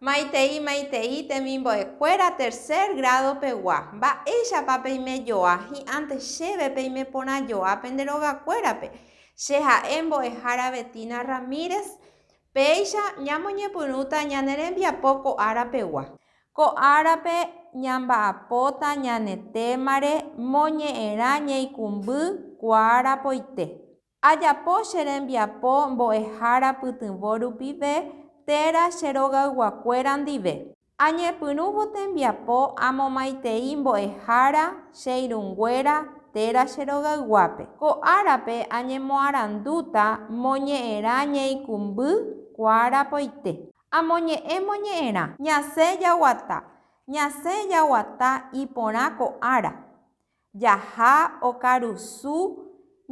Maitei maitei temimbo'ekuéra tercer grado pegua, mba'éichapa peime joa, hi'ãnte chéve peime porã joa pende rogakuérape. Che ha'e mbo'ehára Betina Ramírez, péicha ñamoñepyrũta ñane rembiapo ko ára pegua. Ko árape ñamba'apóta ñane témare moñe'ẽrã ñeikũmby kuaarapoite. Ajapo che rembiapo mbo'ehára pytyvõ rupive téra che rogayguakuéra ndive. Añepyrũvo tembiapo amomaitei mbo'ehára che irũnguéra téra che rogayguápe. Ko árape añemoarandúta moñe'ẽrã ñeikũmby kuaarapoite. Amoñe'ẽ moñe'ẽrã. Ñasẽ jaguata. Ñasẽ jaguata iporã ko ára. Jaha okarusu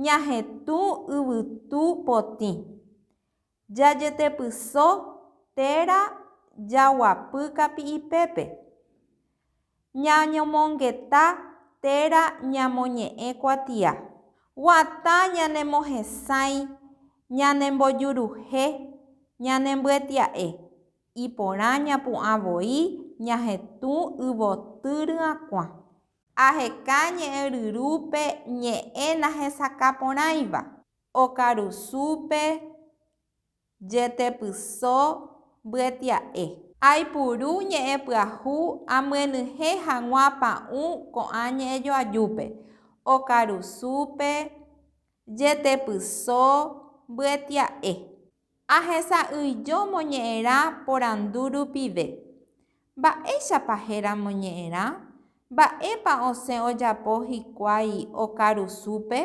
ñahetũ yvytu potĩ. Jajetepyso téra jaguapy kapi'ipépe. ñañomongeta térã ñamoñe'ẽ kuatia, guatã ñanemohesãi, ñanembojuruhe, ñanembyetya'e, iporã ñapu'ã voi ñahetũ yvoty ryakuã. Aheka ñe'ẽ ryrúpe ñe'ẽ nahesakã porãiva, okarusúpe, Jetepyso mbyetia'e. Aipuru ñe'ẽ pyahu amyenyhẽ hag̃ua pa'ũ ko'ã ñe'ẽjoajúpe, okarusúpe, jetepyso mbyetia'e. Ahesa'ỹijo moñe'ẽrã porandu rupive. Mba'éichapa héra moñe'ẽrã? Mba'épa osẽ ojapo hikuái okarusúpe?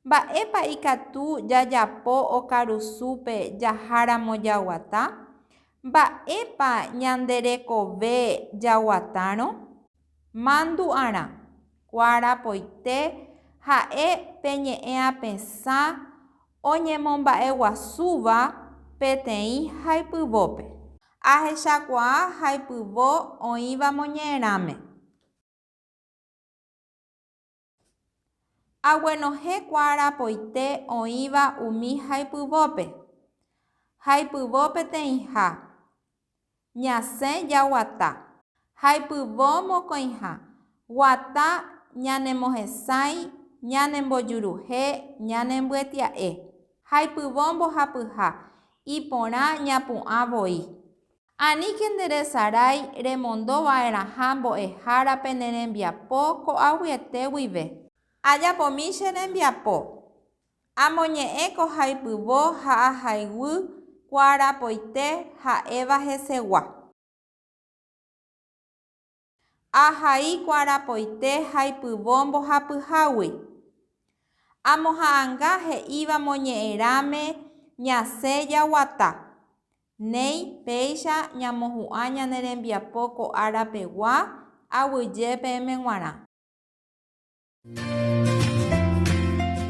Mba'épa ikatu jajapo okarusúpe jaháramo jaguata? Mba'épa ñande rekove jaguatárõ? Mandu'arã, kuarapoite, ha'e pe ñe'ẽ apesã oñemomba'eguasúva peteĩ haypyvópe. Ahechakuaa haypyvo oĩva moñe'ẽrãme. Aguenohẽkuaa rapoite oĩva umi haypyvópe. Haypyvo peteĩha. Ñasẽ jaguata. Jaipyvo mokõiha. Guata ñanemohesãi, ñanembojuruhe, ñanembyetya'e. Jaipyvo mbohapyha. Iporã ñapu'ã voi. Aníke nde resarái remondo va'erãha mbo'ehárape ne rembiapo ko'aguyete guive. Ajapomi che rembiapo. Amoñe'ẽ ko haipyvo ha ahayguy kuara poite ha'éva hesegua. Ahai kuara poite haipyvo mbohapyhágui. Amoha'anga he'íva moñe'ẽrãme ñasẽ jaguata. Néi péicha ñamohu'ã ñane rembiapo ko ára pegua, aguyje peẽme guarã.